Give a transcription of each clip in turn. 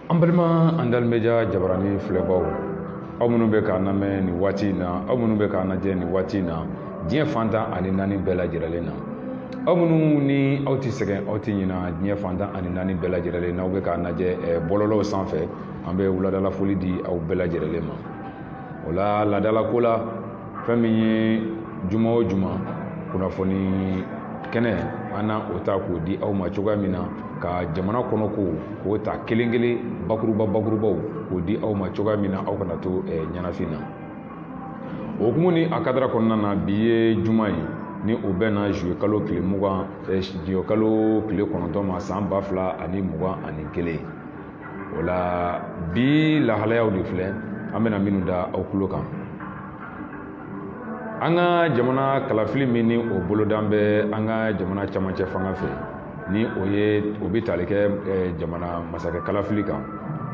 an balima andal media jabarani filɛbaw aw minnu bɛ k'an lamɛn nin waati in na aw minnu bɛ k'an lajɛ nin waati in na diɲɛ fan tan ani naani bɛɛ lajɛlen na aw minnu ni aw tɛ sɛgɛn aw tɛ ɲina diɲɛ fan tan ani naani bɛɛ lajɛlen na aw bɛ k'an lajɛ eh, bɔlɔlɔw sanfɛ an bɛ wuladala foli di aw bɛɛ lajɛlen ma o la laadalako la fɛn min ye juma o juma kunnafoni kɛnɛ an na o ta k'o di aw ma cogoya min na ka jamana kɔnɔ ko k'o ta kelen kelen bakuruba bakurubaw k'o di aw ma cogoya min na aw kana to eh, ɲɛnafin na o hukumu ni a kadara kɔnɔna na bi ye juma ye ni o bɛnna juillet kalo tile mugan eh, juillet kalo tile kɔnɔntɔn ma san ba fila ani mugan ani kelen o la bi lahalayaw de filɛ an bɛna minnu da aw tulo kan an ka jamana kalafili min ni o bolodan bɛ an ka jamana camancɛ fanga fɛ ni o ye o bɛ tali kɛ eh, jamana masakɛ kalafili kan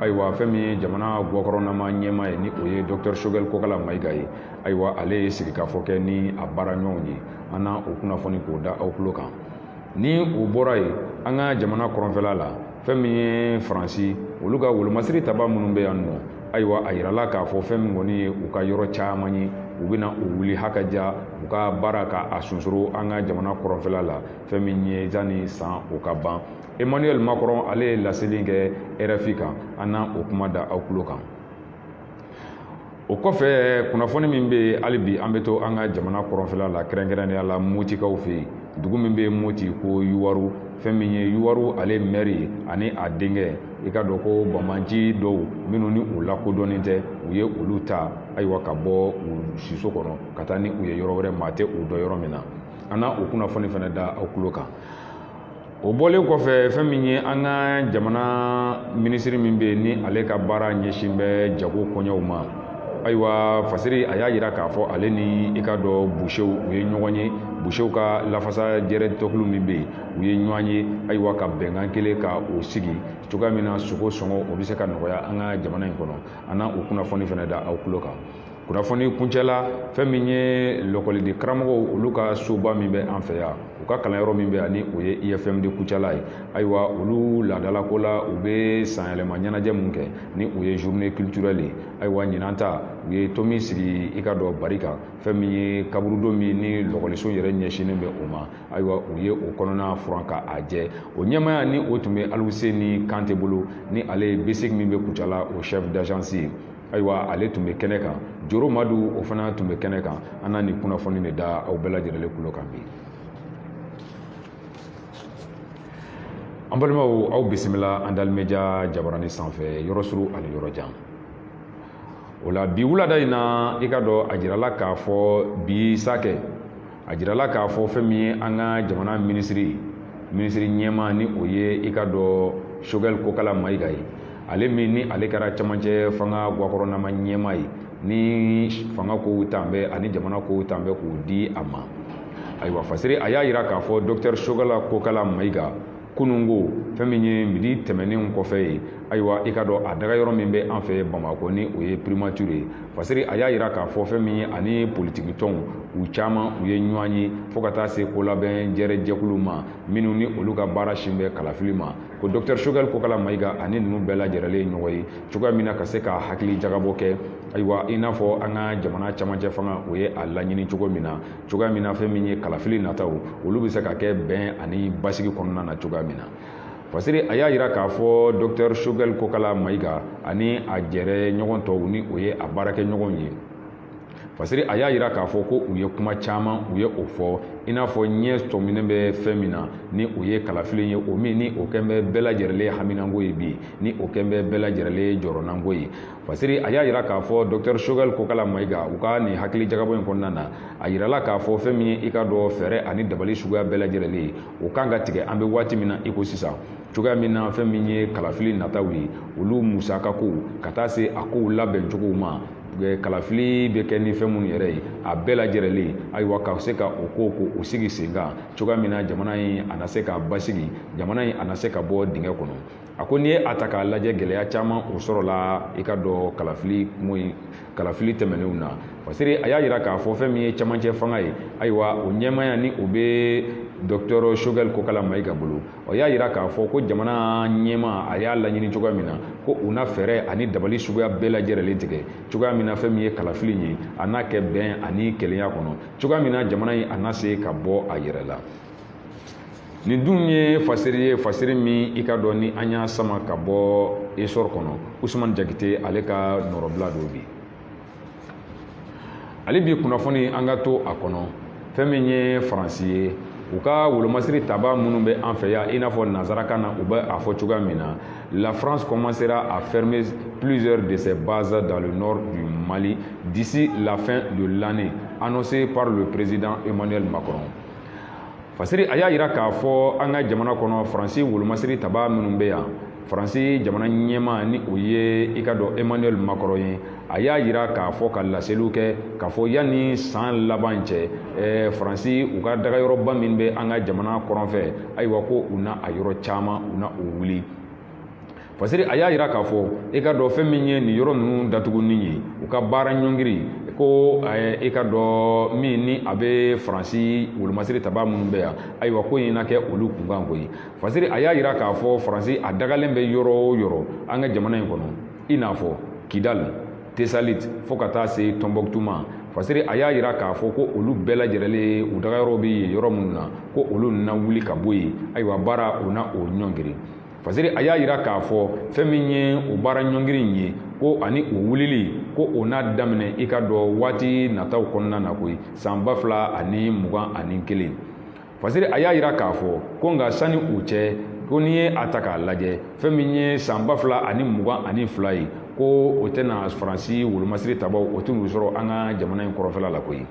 ayiwa fɛn min ye jamana gɔkɔrɔnama ɲɛmaa ye ni o ye dɔktɛr sogɛl kokala mayiga ye ayiwa ale ye sigikafɔ kɛ ni a baara ɲɔgɔnw ye an na o kunnafoni k'o da aw tulo kan ni o bɔra yen an ka jamana kɔrɔnfɛla la fɛn min ye faransi olu ka wolomasiri taba minnu bɛ yan nɔ ayiwa a yirala k'a fɔ fɛn min kɔni ye u ka yɔrɔ caman ye u bɛna o wuli hakaja u ka baara ka a sunsoro an ka jamana kɔrɔnfɛla la fɛn min ye zani san o ka ban emmanuel macron ale ye laseli kɛ rfi kan an na o kuma da aw tulo kan o kɔfɛ kunnafoni min bɛ yen hali bi an bɛ to an ka jamana kɔrɔnfɛla la kɛrɛnkɛrɛnnenya la motikaw fɛ yen dugu min bɛ moti ko yuwaru fɛn min ye yuwaru ale mɛri ani a denkɛ i k'a dɔn ko banbaanci dɔw minnu ni u lakodɔnnen tɛ u ye olu ta ayiwa ka bɔ u siso kɔnɔ ka taa ni u ye yɔrɔ wɛrɛ maa tɛ u dɔn yɔrɔ min na an na o kunnafoni fana da aw tulo kan o bɔlen kɔfɛ fɛn min ye an ka jamana minisiri min bɛ yen ni ale ka baara ɲɛsin bɛ jago koɲɛw ma ayiwa fasiri a y'a jira k'a fɔ ale ni i k'a dɔn busew u ye ɲɔgɔn ye busew ka lafasa jɛrɛ tɔnkulu min bɛ yen u ye ɲɔgɔn ye ayiwa ka bɛnkan kelen ka o sigi cogoya min na sogo sɔngɔ o bɛ se ka nɔgɔya an ka jamana in kɔnɔ an na o kunnafoni fana da aw tulo kan kunnafoni kuncɛla fɛn min ye lɔkɔliden karamɔgɔw olu ka soba min bɛ an fɛ yan u ka kalanyɔrɔ min bɛ yan ni o ye ifm de kucala ye ayiwa olu laadalako la u bɛ sanyɛlɛma ɲɛnajɛ min kɛ ni o ye journée culturelle ye ayiwa ɲinan ta u ye to min sigi i k'a dɔn bari kan fɛn min ye kaburudo min ni lɔkɔliso yɛrɛ ɲɛsinnen bɛ o ma ayiwa u ye o kɔnɔna furan ka a jɛ o ɲɛmaaya ni o tun bɛ aluseni kante bolo ni ale ye bsic min bɛ kucala o chef d'agence ye ayiwa ale tun bɛ kɛnɛ kan joro madu o fana tun bɛ kɛnɛ kan an na nin kunnafoni de da aw bɛɛ lajɛlen kulo kan bi an balimaw aw bisimila andal media jabarani sanfɛ yɔrɔ suru ani yɔrɔ jan o la bi wulada in na i ka dɔn a jirala k'a fɔ bi sakɛ a jirala k'a fɔ fɛn min ye an ka jamana minisiri minisiri ɲɛmaa ni o ye i ka dɔn sogɛli kokala mayiga ye ale min ni ale kɛra camancɛ fanga gakɔrɔnama ɲɛmaa ye ni fanga kow tan bɛ ani jamana kow tan bɛ k'o di a ma ayiwa fasiri a y'a jira k'a fɔ dɔkitɛri sogɛli kokala mayiga kununko fɛn min ye midi tɛmɛnen kɔfɛ ye ayiwa i ka dɔn a dagayɔrɔ min bɛ an fɛ bamakɔ ni o ye primature ye fasiri a y'a jira k'a fɔ fɛn min ye ani politiki tɔnw u caman u ye ɲɔgɔn ye fo ka taa se ko labɛn jɛrɛ jɛkulu ma minnu ni olu ka baara sin bɛ kalafili ma ko dɔkitɛri sogɛli kokala mayiga ani ninnu bɛɛ lajɛrɛlen ye ɲɔgɔn ye cogoya min na ka se ka hakili jagabɔ kɛ ayiwa i n'a fɔ an ka jamana camancɛ fanga o ye a laɲini cogo min na cogoya min na fɛn min ye kalafili nataw olu bɛ se ka kɛ bɛn ani basigi kɔnɔna na cogoya min na fasiri a y'a jira k'a fɔ dɔktɛr shogɛl kokala mayiga ani a jɛrɛ ɲɔgɔn tɔw ni o ye a baarakɛɲɔgɔnw ye fasiri a y'a jira k'a fɔ ko u ye kuma caman u ye o fɔ i n'a fɔ ɲɛ sɔminen bɛ fɛn min na ni o ye kalafili ye o min ni o kɛn bɛ bɛɛ lajɛrɛlen haminanko ye bi ni o kɛn bɛ bɛɛ lajɛrɛlen jɔrɔnanko ye fasiri a y'a jira k'a fɔ dɔkitɛri sogɛli kokala mayiga u ka nin hakili jagabɔ in kɔnɔna na a jirala k'a fɔ fɛn min ye i ka dɔn fɛɛrɛ ani dabali suguya bɛɛ lajɛrɛlen ye o kan ka tigɛ an bɛ waati min na iko sisan cogoya min na fɛn min ye kalafili nataw ye olu musaka kow ka taa se a kow labɛncogow ma kalafili bɛ kɛ ni fɛn minnu yɛrɛ ye a bɛɛ lajɛrɛlen ayiwa ka se ka o kow ko o sigi senkan cogoya min na jamana in a na se ka basigi jamana in a na se ka bɔ dingɛ kɔnɔ a ko n'i ye a ta k'a lajɛ gɛlɛya caman o sɔrɔla i ka dɔn kalafili kunko in kalafili tɛmɛnenw na fasiri a y'a jira k'a fɔ fɛn min ye camancɛ fanga ye ayiwa o ɲɛmaaya ni o bɛ dɔkitɛri sogɛli kokala mayiga bolo o y'a jira k'a fɔ ko jamana ɲɛmaa a y'a laɲini cogoya min na ko u na fɛɛrɛ ani dabali suguya bɛɛ lajɛrɛlen tigɛ cogoya min na fɛn min ye kalafili ye a na kɛ bɛn ani kelenya kɔnɔ cogoya min na jamana in a na se ka bɔ a yɛrɛ la nin dun ye fasiri ye fasiri min i ka dɔn ni an y'a sama ka bɔ essor kɔnɔ usumani jakite ale ka nɔrɔbila don bi ale bi kunnafoni an ka to a kɔnɔ fɛn min ye faransi ye u ka wolomasiri taba minnu bɛ an fɛ yan i n'a fɔ nansarakan na u bɛ a fɔ cogoya min na la france commencera à fermer plusieurs de ses bases dans le nord du mali d'ici la fin de l'année annoncé par le président emmanuel macron Fasiri a y'a yira k'a fɔ an ka jamana kɔnɔ Faransi wolomasiri tabaa minnu bɛ yan Faransi jamana ɲɛmaa ni o ye i ka dɔn Emmanuel Macron ye a y'a yira k'a fɔ ka laseliw kɛ k'a fɔ yanni san laban cɛ ɛɛ Faransi u ka dagayɔrɔba min bɛ an ka jamana kɔrɔnfɛ ayiwa ko u na a yɔrɔ caman u na o wuli Fasiri a y'a yira k'a fɔ i ka dɔn fɛn min ye nin yɔrɔ ninnu datuguni ye u ka baara ɲɔngiri ko i ka dɔn min ni a bɛ faransi wolomasiri tabaa minnu bɛ yan ayiwa ko in na kɛ olu kunkan koyi fasiri a y'a yira k'a fɔ faransi a dagalen bɛ yɔrɔ o yɔrɔ an ka jamana in kɔnɔ i n'a fɔ kidali tesaliti fo ka taa se tɔnbɔkutu ma fasiri a y'a yira k'a fɔ ko olu bɛɛ lajɛlen u dagayɔrɔ bɛ yen yɔrɔ minnu na ko olu na wuli ka bɔ yen ayiwa baara u na o ɲɔngiri fasiri a y'a yira k'a fɔ fɛn min ye o baara ɲɔngiri in ye ko ani o wulili ko o na daminɛ i ka dɔn waati nataw kɔnɔna na koyi san ba fila ani mugan ani kelen fasiri a y'a yira k'a fɔ ko nka sani o cɛ ko n'i ye a ta k'a lajɛ fɛn min ye san ba fila ani mugan ani fila ye ko o tɛna faransi wolomasiri tabaaw o tɛn'u sɔrɔ an ka jamana in kɔrɔnfɛla la koyi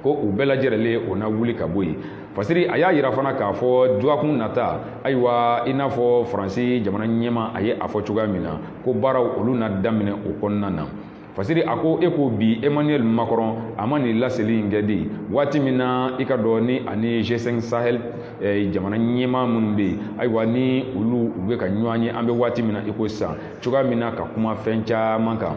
ko u bɛɛ lajɛrɛlen o na wuli ka bɔ yen fasiri a y'a yira fana k'a fɔ dɔgɔkun nata ayiwa i n'a fɔ faransi jamana ɲɛma a ye a fɔ cogoya min na ko baaraw olu na daminɛ o kɔnɔna na fasiri a ko e ko bi emmanuel macron a ma nin laseli in kɛ de waati min na i ka dɔn ni ani g5 sahel eh, jamana ɲɛma minnu bɛ yen ayiwa ni olu u bɛ ka ɲɔgɔn ye an bɛ waati min na i ko sisan cogoya min na ka kuma fɛn caman kan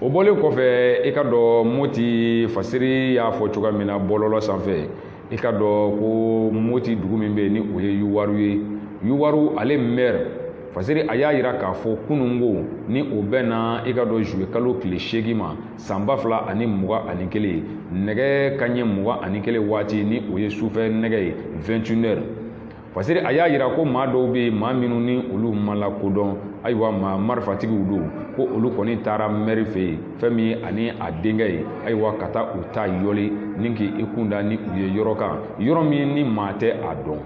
o bɔlen kɔfɛ i ka dɔn moti fasiri y'a fɔ cogoya min na bɔlɔlɔ sanfɛ i ka dɔn ko moti dugu min bɛ yen ni o ye yuwaru ye yuwaru ale mɛri fasiri a y'a yira k'a fɔ kunun ko ni o bɛnna i ka dɔn juillet kalo tile seegin ma san ba fila ani mugan ani kelen nɛgɛ kanɲɛ mugan ani kelen waati ni o ye sufɛ nɛgɛ ye 21 heures fasiri a y'a yira ko maa dɔw bɛ yen maa minnu ni olu ma lakodɔn ayiwa maa marifatigiw don ko olu kɔni taara mɛri fɛ yen fɛn min ye ani a denkɛ ye ayiwa ka taa u ta yɔli ni k'i kun da ni u ye yɔrɔ kan yɔrɔ min ni maa tɛ a dɔn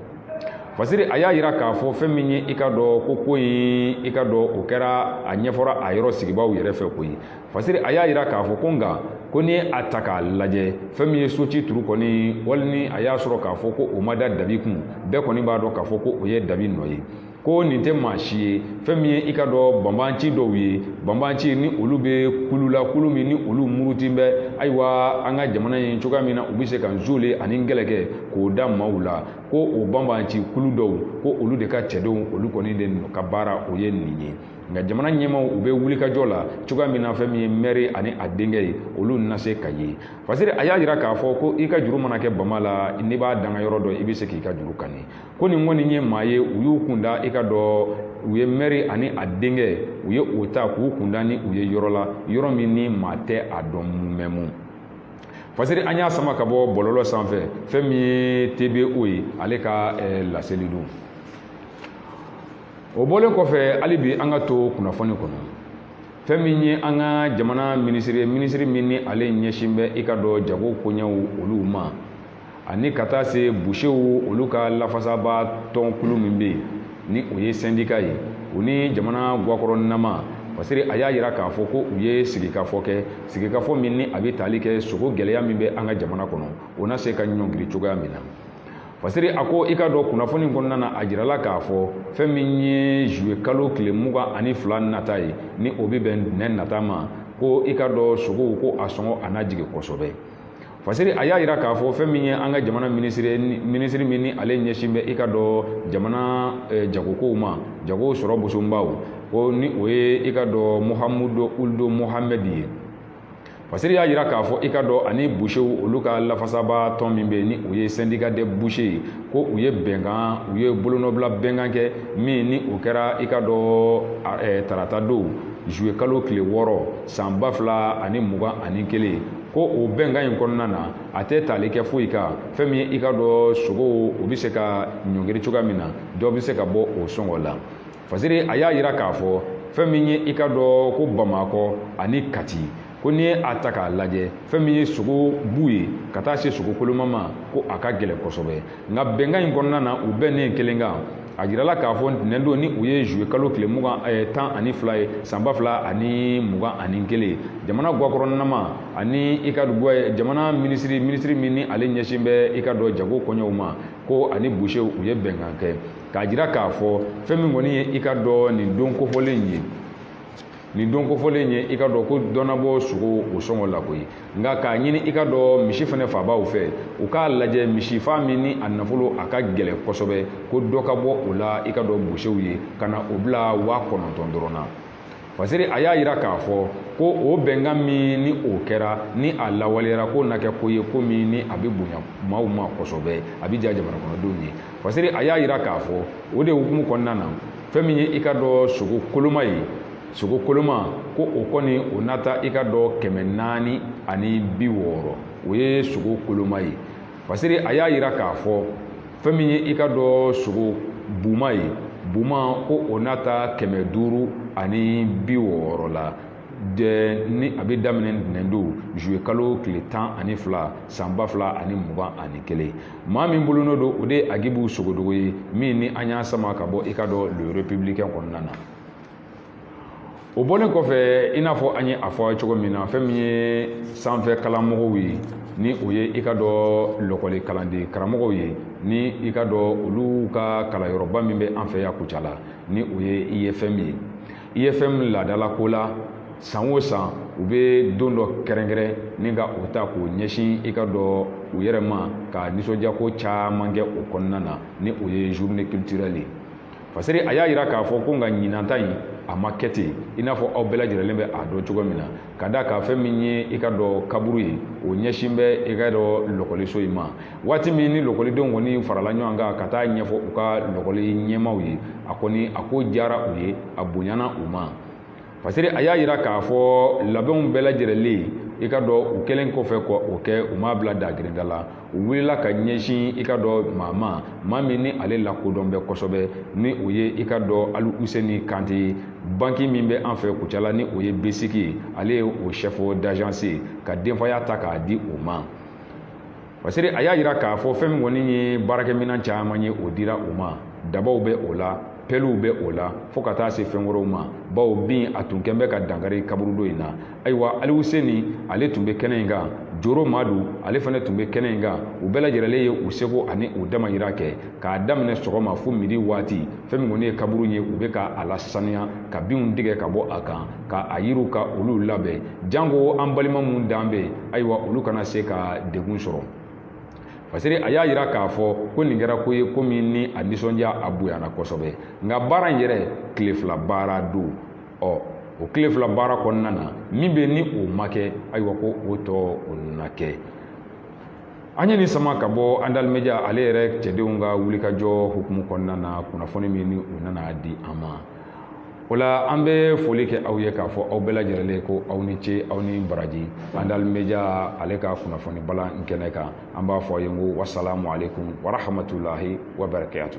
fasiri a y'a yira k'a fɔ fɛn min ye i ka dɔn ko ko in i ka dɔn o kɛra a ɲɛfɔra a yɔrɔ sigibaaw yɛrɛ fɛ koyi fasiri a y'a yira k'a fɔ ko nka ko ni a ta k'a lajɛ fɛn min ye so ci turu kɔni hali ni a y'a sɔrɔ k'a fɔ ko o ma da dabi kun bɛɛ kɔni b'a dɔn k'a fɔ ko o ye dabi nɔ ye ko nin tɛ maa si ye fɛn min ye i ka dɔn banbanci dɔw ye banbanci ni olu bɛ kulu la kulu min ni olu murutilen bɛ ayiwa an ka jamana in cogoya min na u bɛ se ka nzole ani kɛlɛ kɛ k'o da maaw la ko o banbanci kulu dɔw ko olu de ka cɛdenw olu kɔni de ka baara o ye nin ye nka jamana ɲɛmaaw u bɛ wulikajɔ la cogoya min na fɛn min ye mɛri ani a denkɛ ye olu na se ka ye fasiri a y'a jira k'a fɔ ko i ka juru mana kɛ bama la n'i b'a dankan yɔrɔ dɔn i bɛ se k'i ka juru kani ko nin kɔni ye maa ye u y'u kun da i ka dɔn u ye mɛri ani a denkɛ u ye o ta k'u kun da ni u ye yɔrɔ la yɔrɔ min ni maa tɛ a dɔn mun mɛ mun fasiri an y'a sama ka bɔ bɔlɔlɔ sanfɛ fɛn min ye tbo ye ale ka eh, laseli don o bɔlen kɔfɛ hali bi an ka to kunnafoni kɔnɔ fɛn min ye an ka jamana minisiri minisiri min ni ale ɲɛsin bɛ i ka dɔn jago koɲɛw olu ma ani ka taa se busew olu ka lafasaba tɔnkulu min bɛ yen ni o ye sɛndika ye u ni jamana gakɔrɔnama fasiri a y'a jira k'a fɔ ko u ye sigikafɔ kɛ sigikafɔ min ni a bɛ tali kɛ sogo gɛlɛya min bɛ an ka jamana kɔnɔ o na se ka ɲɔngiri cogoya min na fasiri a ko i ka dɔn kunnafoni kɔnɔna na a jirala k'a fɔ fɛn min ye zuwe kalo tile mugan ani fila nata ye ni o bɛ bɛn ntɛnɛn nata ma ko i ka dɔn sogow ko a sɔngɔ a na jigin kosɛbɛ fasiri a y'a jira k'a fɔ fɛn min ye an ka jamana minisiri minisiri min ni ale ɲɛsin bɛ i ka dɔn jamana eh, jagokow ma jago sɔrɔ bosobaw ko ni o ye i ka dɔn muhamudu uldo mohamɛdi ye Fasiri y'a jira k'a fɔ i ka dɔn ani busew olu ka lafasaba tɔn min bɛ yen ni o ye sɛndika de buse ye ko u ye bɛnkan u ye bolonɔbila bɛnkan kɛ min ni o kɛra i ka dɔn tarata don zuwe kalo tile wɔɔrɔ san ba fila ani mugan ani kelen ko o bɛnkan in kɔnɔna na a tɛ tali kɛ foyi kan fɛn min ye i ka dɔn sogow o bɛ se ka ɲɔngiri cogoya min na dɔ bɛ se ka bɔ o sɔngɔ la fasiri a y'a jira k'a fɔ fɛn min ye i ka dɔn ko bamakɔ ani kati ko n'i ye a ta k'a lajɛ fɛn min ye sogo bu ye ka taa se sogo koloma ma ko a ka gɛlɛn kosɛbɛ nka bɛnkan in kɔnɔna na u bɛnnen kelen kan a jirala k'a fɔ ntɛnɛn don ni o ye zuwe kalo tile mugan eh, tan ani fila ye san ba fila ani mugan ani kelen jamana gakɔrɔnama ani i ka eh, jamana minisiri minisiri min ni ale ɲɛsin bɛ i ka dɔn jago koɲɛw ma ko ani busew u ye bɛnkan kɛ k'a jira k'a fɔ fɛn min kɔni ye i ka dɔn nin don kofɔlen ye nin don kofɔlen ye i ka dɔn ko dɔ na bɔ sogo o sɔngɔ la koyi nka k'a ɲini i ka dɔn misi fana faabaw fɛ u k'a lajɛ misi faa min ni a nafolo a ka gɛlɛn kosɛbɛ ko dɔ ka bɔ o la i ka dɔn busew ye ka na o bila waa kɔnɔntɔn dɔrɔn na fasiri a y'a yira k'a fɔ ko o bɛnkan min ni o kɛra ni a lawaleyara k'o na kɛ ko ye ko min ni a bɛ bonya maaw ma kosɛbɛ a bɛ diya jamana kɔnɔdenw ye fasiri a y'a yira k'a fɔ o de hukumu kɔnɔna na fɛn min ye i ka dɔn sogo koloma ye sogo koloma ko o kɔni o na taa i ka dɔn kɛmɛ naani ani bi wɔɔrɔ o ye sogo koloma ye fasiri a y'a yira k'a fɔ fɛn min ye i ka dɔn sogo buma ye buma ko o n'a ta kɛmɛ duuru ani bi wɔɔrɔ la de ni a bɛ daminɛ ntɛnɛndon juillet kalo tile tan ani fila san ba fila ani mugan ani kelen maa min bolonɔ don o de ye agibu sogodogo ye min ni an y'a sama ka bɔ i ka dɔn le républicain kɔnɔna na o bɔlen kɔfɛ i n'a fɔ an ye a fɔ cogo min na fɛn min ye sanfɛ kalanmɔgɔw ye ni o ye i ka dɔn lɔkɔli kalanden karamɔgɔw ye ni i ka dɔn olu ka kalanyɔrɔba min bɛ an fɛ yan kucala ni o ye IFM ye IFM laadala ko la san o san u bɛ don dɔ kɛrɛnkɛrɛn ni ka o ta k'o ɲɛsin i ka dɔn u yɛrɛ ma ka nisɔndiyako caman kɛ o kɔnɔna na ni o ye journée culturelle ye Fasiri a y'a jira k'a fɔ ko nka ɲinan ta in a ma kɛ ten i n'a fɔ aw bɛɛ lajɛrɛlen bɛ a dɔn cogo min na ka d'a kan fɛn min ye i ka dɔn kaburu ye o ɲɛsin bɛ i ka dɔn lɔkɔliso in ma waati min ni lɔkɔlidenw kɔni farala ɲɔgɔn kan ka taa ɲɛfɔ u ka lɔkɔli ɲɛmaaw ye a kɔni a ko diyara u ye a bonyana u ma fasiri a y'a jira k'a fɔ labɛnw bɛɛ lajɛrɛlen i ka dɔn u kɛlen kɔfɛ ko o kɛ u m'a bila dagirinda la u wulila ka ɲɛsin i ka dɔn maa ma maa min ni ale lakodɔn bɛ kosɛbɛ ni o ye i ka dɔn ali useni kante ye banki min bɛ an fɛ kucala ni o ye BSIC ye ale ye o chef d'agence ye ka denfaya ta k'a di o ma Fasiri a y'a jira k'a fɔ fɛn min kɔni ye baarakɛminɛn caman ye o dira u ma dabaw bɛ o la pɛliw bɛ o la fo ka taa se fɛn wɛrɛw ma bawo bin a tun kɛn bɛ ka dankari kaburudo in na ayiwa ali useni ale tun bɛ kɛnɛ in kan joro madu ale fana tun bɛ kɛnɛ in kan u bɛɛ lajɛrɛlen ye u seko ani u damayira kɛ k'a daminɛ sɔgɔma fo midi waati fɛn min kɔni ye kaburu ye u bɛ ka a lasaniya ka binw tigɛ ka bɔ a kan ka a yiriw ka olu labɛn janko an balima minnu dan bɛ ayiwa olu kana se ka degun sɔrɔ fasiri a y'a jira k'a fɔ ko nin kɛra ko ye ko min ni a nisɔndiya a bonyana kosɛbɛ nka baara in yɛrɛ tile fila baara don ɔ o tile fila baara kɔnɔna na min bɛ ni o ma kɛ ayiwa ko o tɔ o na kɛ an ye nin sama ka bɔ andal media ale yɛrɛ cɛdenw ka wulikajɔ hukumu kɔnɔna na kunnafoni min ni u nana di an ma o la an bɛ foli kɛ aw ye k'a fɔ aw bɛɛ lajɛrɛlen ko aw ni ce aw ni baraji andal media ale ka kunnafoni bulon kɛnɛ kan an b'a fɔ aw ye ko wasalamu alekum warahamatulayi wabarakatu